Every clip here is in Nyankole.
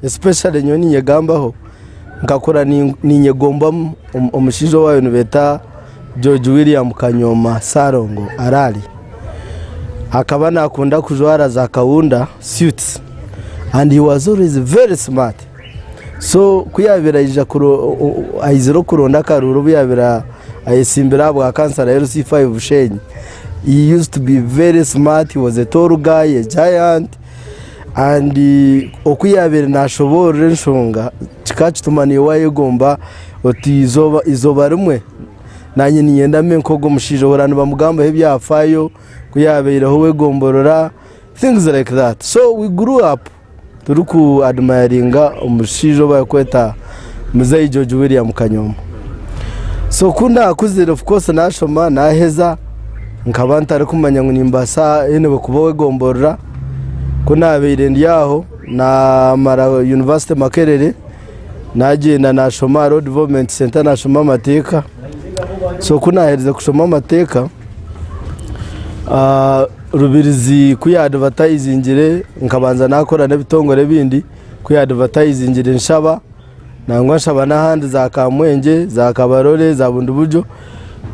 especially nyowe ninyegambaho nkakura ni- ninyegomba omu- omu- omushaija owaayo nibeeta george william kanyoma sarongo arali akaba nakunda kujwara za kaunda suits and he was always very smart So ku yaabaire aizire okuronda akaruuru obu yaabaire ayetsimbire aha bwakansara ya LC5 Bushenyi, he used to be very smart, he was a tall guy, a giant and oku yaabaire naashoboorora enshonga kikakituma niiwe waayegomba oti eizooba rimwe naanye niinyenda mbe nk'ogwo omushaija ohurira nibamugambaho ebyafaayo ku yaabaireho ow'egomborora things like that so we grew up. Turi ku admiringa omushaija owu bari kweta Mzei George William Kanyoma. So ku nakuzire of course nashoma naheza nkaba ntari kumanya ngu nimbaasa anyway kuba owegomborora. Ku nabaire ndi aho namara University Makerere nagyenda nashoma aha Road Development Centre nashoma amateeka. So kunaaherize kushoma amateeka, Rubirizi ku yaadvatayizingire nkabanza naakora n'ebitongore ebindi, ku yaadvatayizingire nshaba, nangwa nshaba n'ahandi za Kamwengye, za Kabarole, za Bundibugyo,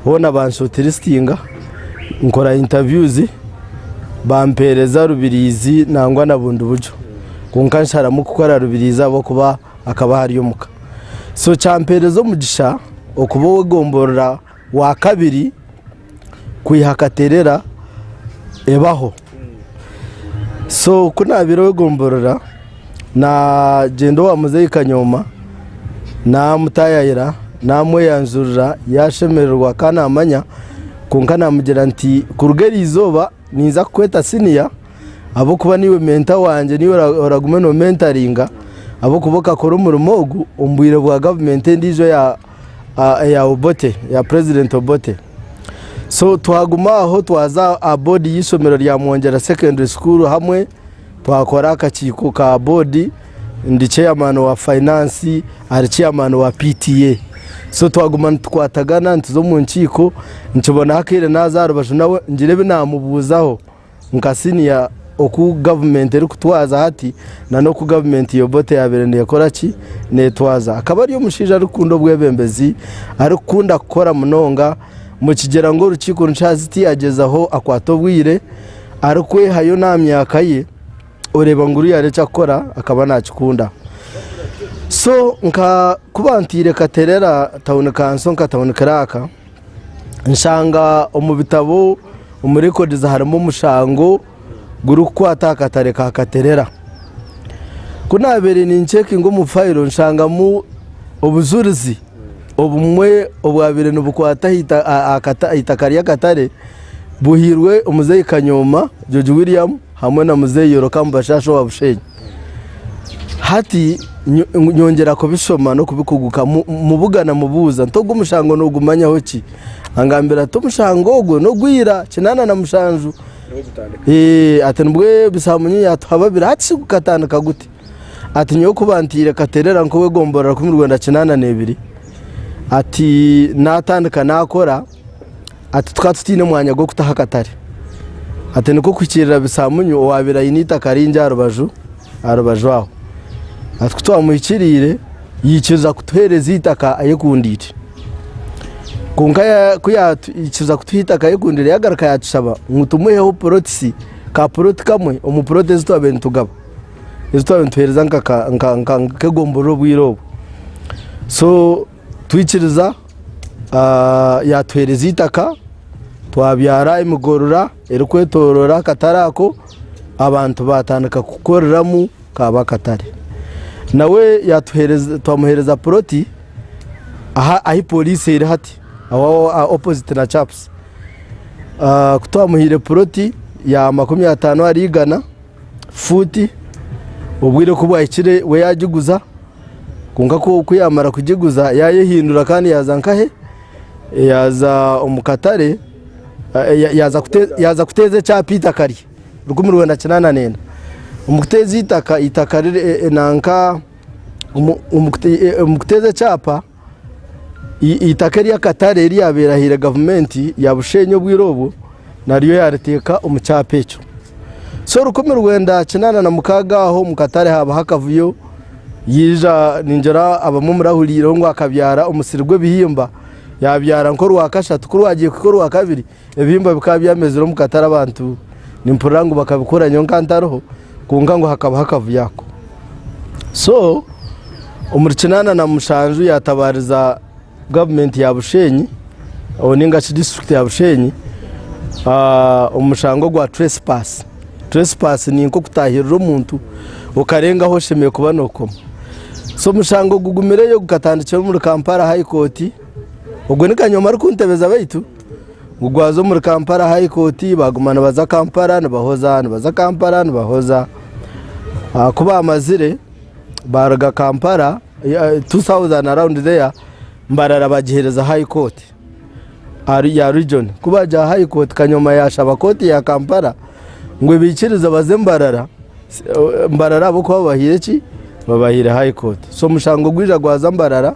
hoona banshootirisitinga, nkora intaviyuzi, bampeereza Rubirizi nangwa na Bundibugyo. Kwonka nsharamu kukora Rubirizi ahabw'okuba akaba ahari omuka so kyampereza omugisha okuba owegomborora wa kabiri kwiha katerera ebaho so kunabire owegomborora na gyenda owa muzeyi kanyoma namutayayira namweyanjurira yashemererwa kandi namanya kwonka namugira nti kuruga erizooba ninza kukweta siniya ahabw'okuba niiwe menta wangye, niiwe oragume noomentaringa ahabw'okuba okakora omurimo ogu omu bwire bwa gavumenti endiijo eya Obote, eya purezidenti Obote. So twaguma aho twaza aha boodi y'eishomero rya Mwongyera Secondary School hamwe, twakora akakiiko ka boodi, ndi ceyamaani wa fayinaansi, ari ceyamaani wa PTA. So twaguma nitukwatagana, nituza omu nkiiko, nkibonaho akaire naaza aha rubaju nawe ngire ebi naamubuuzaho. nka siniya oku gavumenti erikutwaza hati na n'oku gavumenti ya Obote yaabaire neekora ki? Neetwaza. Akaba ari omushaija arikukunda obwebembezi, arikukunda kukora munonga, mukigyera ngu orukiiko nikihara ziti yaagyezaho akwata obwire, arikwehayo n'aha myaka ye, oreeba ngu oriya ari ekyakukora akaba naakikunda. So nka ku bantaire Katerera tawuni kanso nka tawuni kiraaka, nshanga omu bitabo omu records harimu omushango gurikukwata aha katare ka Katerera. Ku naabaire nincekinga omu fayiro nshangamu obujurizi obumwe obwabaire nibukwata aha ita aha kata aha itaka ry'akatare buhairwe omuzeeyi Kanyooma George William hamwe na muzeeyi Yorokamu Bashaasha owa Busheenyi. Hati nyongyera kubishoma n'okubikugukamu mubuga na mubuuza nti, Ogu mushango noogumanyaho ki? Angambira ati, Omushango ogwo n'ogwa ira kinaana na mushanju. Ati, Nibwo ebisamunye yaatuha babiri. Hati shi gukatandika guti? Ati, Nyowe ku bantaire Katerera nk'ow'egomborora kumi rwenda kinaana n'ebiri, ati naatandika naakora. Ati, Tukaba tutaine mwanya gw'okutaho akatare. Ati, Nikwo kuhikiirira Bisamunyu owaabaire aine eitaka ringi aha rubaju aha rubaju aho. Ati, Ku twamuhikiriire, yaikiriza kutuheereza eitaka ayekundiire. Kwonka ku yaikiriza kutuha eitaka ayekundiire, yaagaruka yaatushaba ngu tumuheho purotisi, ka puroti kamwe omu puroti ezi twabaire nitugaba, ezi twabaire nituheereza nk'egomborora obwire obwo. Twikiriza, yaatuheereza eitaka, twabyara emigorora erikwetooroora akatare ako, abantu baatandika kukoreramu kaaba akatare. Nawe twamuheereza puroti ahu pooriisi eri hati, opoziti na CAPS. Ku twamuhaire puroti ya makumi ataano ahari igana. fuuti, obwire ku bwahikire we yaagiguza, kwonka ku yaamara kugiguza yaayehindura kandi yaaza nkahe? Yaaza omu katare, yaaza kuteeza ekyapa eitaka rye, rukumi rwenda kinaana neenda. Omu kuteeza eitaka, eitaka riri nanka, omu kuteeza ekyapa. Eitaka ery'akatare eryabaire ahaire gavumenti ya Bushenyi obwire obwo naryo yariteeka omu kyapa ekyo. So rukumi rwenda kinaana na mukaaga aho omu katare haabaho akavuyo, yaija ningira abamwe omuri ahuriireho ngu akabyara omusiri gw'ebihimba, yaabyara nk'orwakashatu ku rwagiire kuhika orwakabiri, Ebihimba bikaba byamezire omu katare abantu nimpurira ngu bakabikora nyowe nkaba ntariho kwonka ngu hakabaho akavuyo ako. So omuri kinaana na mushanju yatabariza gavumenti ya Bushenyi ninga shi disiturikiti ya Bushenyi omu mushango gwa trespass. Trespass ni nka okutahirira omuntu okarengaho oshemereire kuba nokoma. So omushango gugumireyo gukatandikira omuri Kampala high court, ogwe ni kanyoma ari kuntebeza baitu. gugwaza omuri Kampala high court baguma nibaza Kampala nibahoza nibaza Kampala nibahoza ah, ku bamazire baruga Kampala 2000 around there mbarara bagihereza high court ari ya region kuba ja high court kanyoma yashaba court ya Kampala ngo bikirize baze mbarara mbarara abo kuba babahire ki babahire high court so mushango gwija gwaza mbarara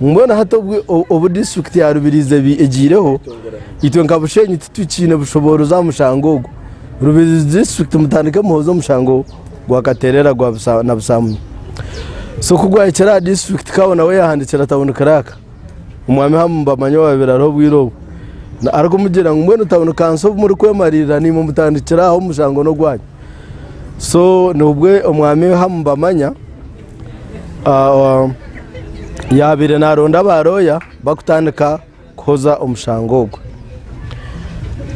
Mbwenu hati obu obu disiturikiti ya Rubirizi eba egiireho, itwe nka Bushenyi titukiine bushoboorozi aha mushango ogwo. Rubirizi disiturikiti mutandike muhooze omushango gwa Kateerera gwa busa na busamunye. So ku gwahikire aha disiturikiti Kawo nawe yaahandikira tawuni kiraaka Omwami Hamu Mbamanya owaabaire ariho obwire obwo arikumugira ngu mbwenu tawuni kanso obu murikwemariirira naimwe mutandikire aha omushango n'ogwanyu. So nibwo Omwami Hamu Mbamanya, yaabaire naaronda abarooya barikutandika kuhoza omushango ogwo.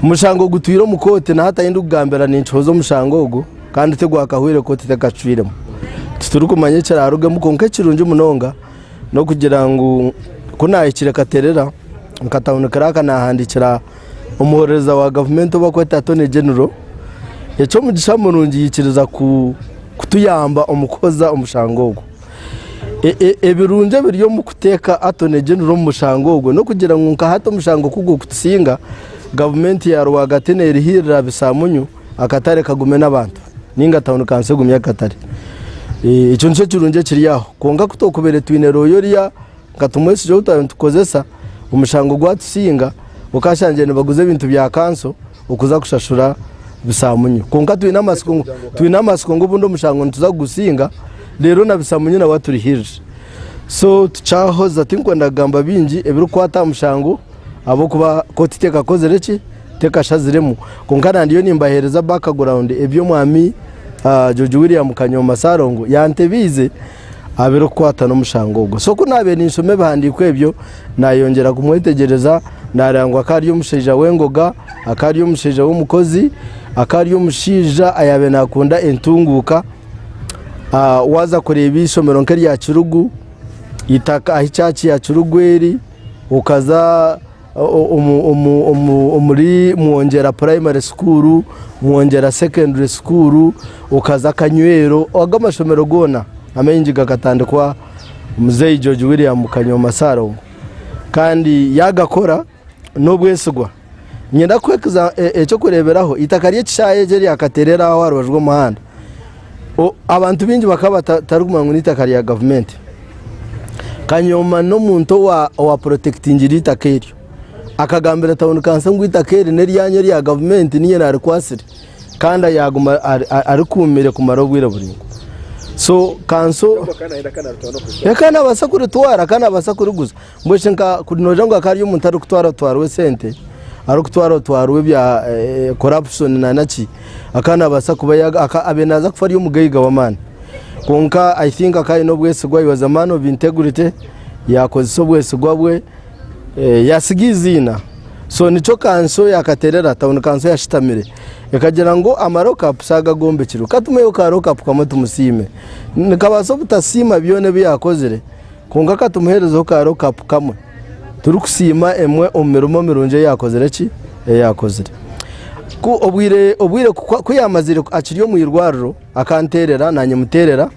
Omushango gutwire omu kooti na hati ahu ndikugambira ninkihoza omushango ogwo kandi tigwakahwire kooti tekacwiremu. Titurikumanya ekiraarugemu kwonka ekirungi munonga n'okugira ngu ku naahikire Katerera, nkatahunikireho aka naahandiikira Omuhorereza wa gavumenti ou barikweta Attorney General, Ekyomugisha Murungi yaikiriza kutuyamba omu kuhoza omushango ogwo. Ebirungi ebiri omu kuteeka Attorney General omu mushango ogwo n'okugira ngu nka hati omushango ku gurikutusinga, gavumenti ya rwagati neerihirira aha bisaamunyu akatare kagume n'abantu nainga tauni kansi egumye akatare. Ekyo nikyo kirungi ekiri aho. Kwonka ku twakubaire twine rooya oriya Nka tumwesiga ou twaba nitukozesa, omushango gwatusinga okashangire nibaguza ebintu bya kanso okuza kushashura bisamunyu. Konka twine amasiko twine amasiko ngu obundi omushango nituza kugusinga rero na bisamunyu nawe aturihirire. So tukyahoza tinkwenda kugamba bingi ebirikukwata aha mushango ahabw'okuba kooti tekakozire ki tekashaziremu. Konka na ndiyo nimbahereza background ebi omwami George William Kanyooma Sarongo yantebeize. abirikukwata n'omushango ogwo. So ku naabaire ninshoma ebihandiiko ebyo, naayongyera kumwetegyereza, naareeba ngu akaba ari omushaija w'engoga, akaba ari omushaija w'omukozi, akaba ari omushaija ayaabaire naakunda entunguuka. Ah, waaza kureeba eishomero nk'erya Kirugu, itaka ahi church ya Kirugu eri, okaza omuri Mwongyera purayimari sukuuru, Mwongyera sekendure sukuuru, okaza Kanyweero, ago amashomero goona amaingi gakatandikwa muzeeyi George William Kanyooma Saalongo kandi yaagakora n'obwesigwa. Niinyenda kukuha eky'okureeberaho, eitaka ry'ekishaayi eki eryakateerera aho aha rubaju rw'omuhanda, Abantu baingi bakaba batarikumanya ngu n'eitaka rya gavumenti. Kanyoma n'omuntu owaapurotekitingire eitaka eryo. Akagambira tauni kanso ngu eitaka eri n'eryanyu erya gavumenti niinye naarikwatsire. Kandi yaaguma arikuumire kumara obwire buraingwa. So kanso, ee akaba naabaasa kuritwara, akaba naabaasa kuriguza. Mbwenu shi nka kuri noogira ngu hakaba hariyo omuntu arikutwarwa twarwa esente, arikutwarwa twarwa ebya corruption naana ki, akaba naabaasa kuba ya- aka- abe naaza kufa ari omugaiga w'amaani. Kwonka I think akaba aine obwesigwa, he was a man of integrity, yaakozesa obwesigwa bwe, eh, yaatsiga eiziina. So nikyo kanso yaakateerera, town kanso yashitamire ekagira ngu ama lock up shi aga agoombekirwe, ka tumiheyo ka lock up kamwe tumusiime. Nikabaasa obutasiima byona ebi yaakozire, Kwonka ka tumuheerezeho kaaro kapu kamwe turikusiima emwe omu mirimo mirungi ei yaakozire ki? Ei yaakozire. Ku obwire obwire ku ku yaamaziire akiri omu irwariro, akanteerera naanye muteerera.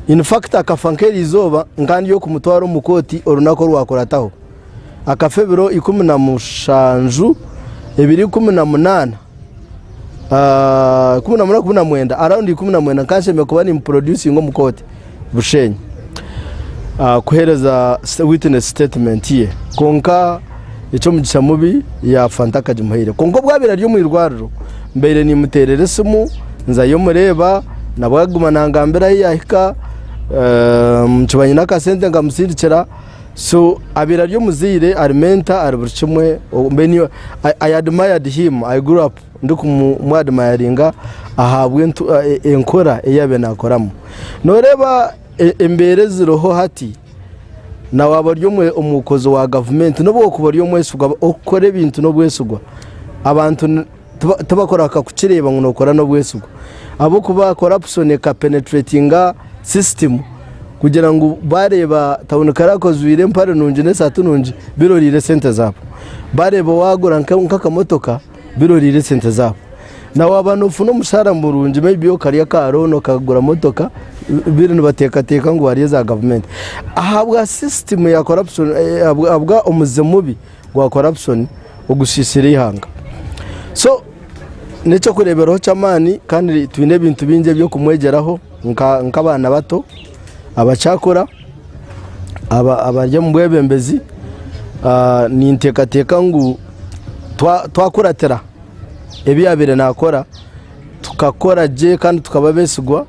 In fact akafa nk'erizooba, nka ndi okumutwara omu kooti orunaku orwakurataho. akafa ebiro ikumi na mushanju, ebiro ikumi na munaana, ah, ikumi na munaana, ikumi na mwenda, around ikumi na mwenda nkanshemire kuba nimuproducinga omu kooti Bushenyi ah, kuheereza sta- witness statement ye kwonka eky'omugisha mubi ya fanta akagimuhaire kwonka obwabaire ari omu irwariro mbaire nimuteerera esimu nzayo mureeba nabwo aguma nangambira ahu yahika eh, nkiba nyine akasente nkamusindikira So abaire ari omuzaire, ari mentor, ari buri kimwe. Oh, mbe ni- I, I admired him. I grew up ndikumwadmayaringa ahabw'entu- e- e- enkora ei yaabaire naakoramu. Nooreeba e- embeera eziriho hati, na waaba ori omwe- omukozi wa gavumenti, n'obu okuba ori omwesigwa, okukora ebintu n'obwesigwa, abantu ni-. tibakurahika kukireeba ngu nookora n'obwesigwa ahabw'okuba corruption eka penetratinga system kugira ngu baareeba town clerk ojwaire empare nungi n'esaati nungi biroreire esente zaabo, baareeba waagura nk'akamotoka biroreire esente zaabo, na waaba noofuna omushaara murungi may be okarya aka loan okagura motoka mbwenu nibateekateeka ngu waarya eza gavumenti ahabwa system ya corruption ahabwa omuze mubi. gwa corruption ogusiisire eihanga. So n'eky'okureeberaho ky'amaani kandi twine ebintu bingi eby'okumwegyeraho nk'abaana bato abakyakura abari omu bwebembezi. Ninteekateeka ngu twakuratira ebi yaabaire naakora Tukakora gye kandi tukaba beesigwa,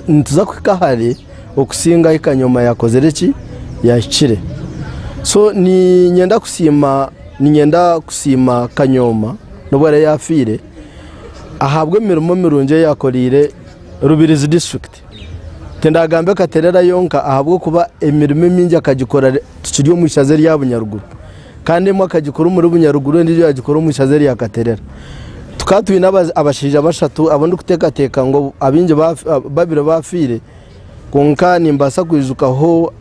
nituza kuhika hare okusinga ahi kanyoma yaakozire ki? Yaahikire. So niinyenda kusiima, niinyenda kusiima kanyoma n'obu araabe yaafiire ahabw'emirimo mirungi ei yaakoreire Rubirizi disiturikiti. Tindagambe Katerera yonka ahabw'okuba emirimo emingi akagikora tukiri omu ishaza erya Bunyaruguru kandi emwe akagikora omuri Bunyaruguru endiijo yagikora omu ishaza erya Katerera. Tukaba twine abashaija bashatu abu ndikuteekateeka ngu abaingi babire baafiire kwonka nimbaasa kwijukaho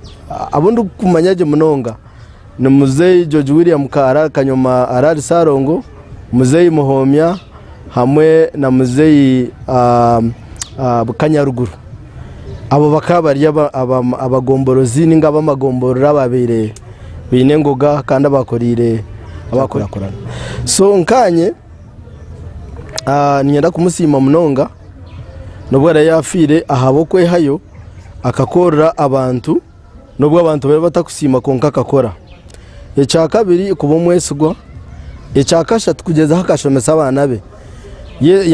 abu ndikumanya gye munonga. ni Muzei George William Kaara kanyoma araari Sarongo, Muzei Muhomya hamwe na Muzei Kanyaruguru. Abo bakaba bari abagomborozi ninga abamagomborora ababaire baine engoga kandi abakoreire eby'enkurakurana. So nkanye niinyenda kumusiima munonga n'obu araabe yaafiire ahabw'okwehayo akakorera abantu. n'obu abantu baabaire batakusiima kwonka akakora. Ekya kabiri kuba omwesigwa. Ekya kashatu kugyezaho akashomesa abaana be.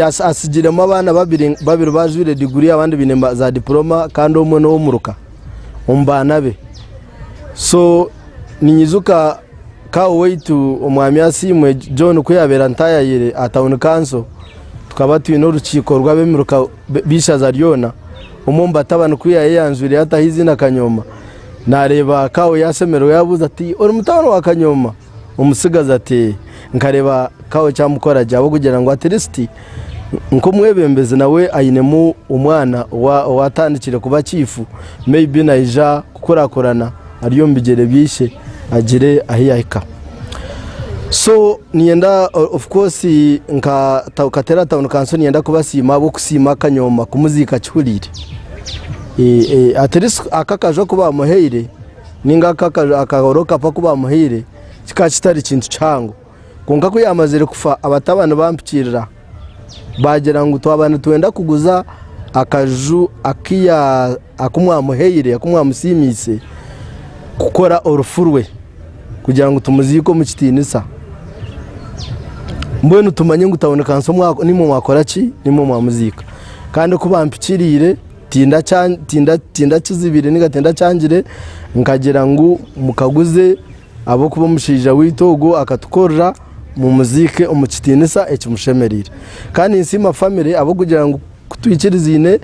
Atsigiremu abaana babiri, babiri bajwire diguri abandi baine za dipuroma kandi omwe n'ow'omuruka omu baana be. So ninyijuka kaawe waitu omwami Asiimwe John ku yaabaire antayayire aha tauni kanso, tukaba twine orukiiko rw'abemiruka b'eishaza ryona, omwe omu batabani ku yaayeyanzwireyo ataho eiziina Kanyooma, naareeba kaawe yaashemererwa yaabuuza ati, Ori mutabani wa Kanyooma? Omutsigazi ati, Ee. Nkareeba kaawe eki amukora gye, ahabw'okugira ngu atirisiti nk'omwebembezi nawe ainemu omwana owaatandikire kuba chiifu, maybe naija kukurakurana. Ari omu bigyere bya Ishe agire ahu yahika. So niyenda of course nka Katera Town Council niyenda kubasiima ahabw'okusiima Kanyooma kumuziika akihuriire. At least ako akaju aku baamuhaire nainga ako akahoro kapu aku baamuhaire kikaba kitari kintu kihango. Kwonka ku yaamazire kufa, abatabani baampikirira baagira ngu twaba nitwenda kuguza akaju aku mwamuhaire, aku mwamusiimiise kukora orufu rwe kugira ngu tumuziike omu kitiinisa. Mbwenu tumanye ngu tauni kanso nimwo mwakora ki? Nimwo mwamuziika. Kandi ku baampikiriire tindakizibire nainga tindakyangire nkagira ngu mukaguze. Ahabw'okuba omushaija waitu ogwo akatukorera, mumuziike omu kitiinisa ekimushemereire. Kandi ninsiima famire ahabw'okugira ngu ku twikirizaine,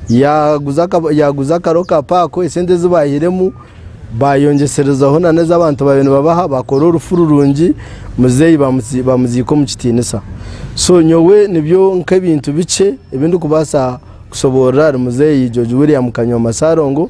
yaaguza yaaguza akaro ka paako, esente ezi baaihiremu baayongyeserezaho nana ezi abantu baabaire nibabaha, baakora orufu rurungi, muzeeyi baamuziika omu kitiinisa. So nyowe nibyo nk'ebintu bikye ebi ndikubaasa kushoboorora ahari muzeeyi George William Kanyooma Saarongo.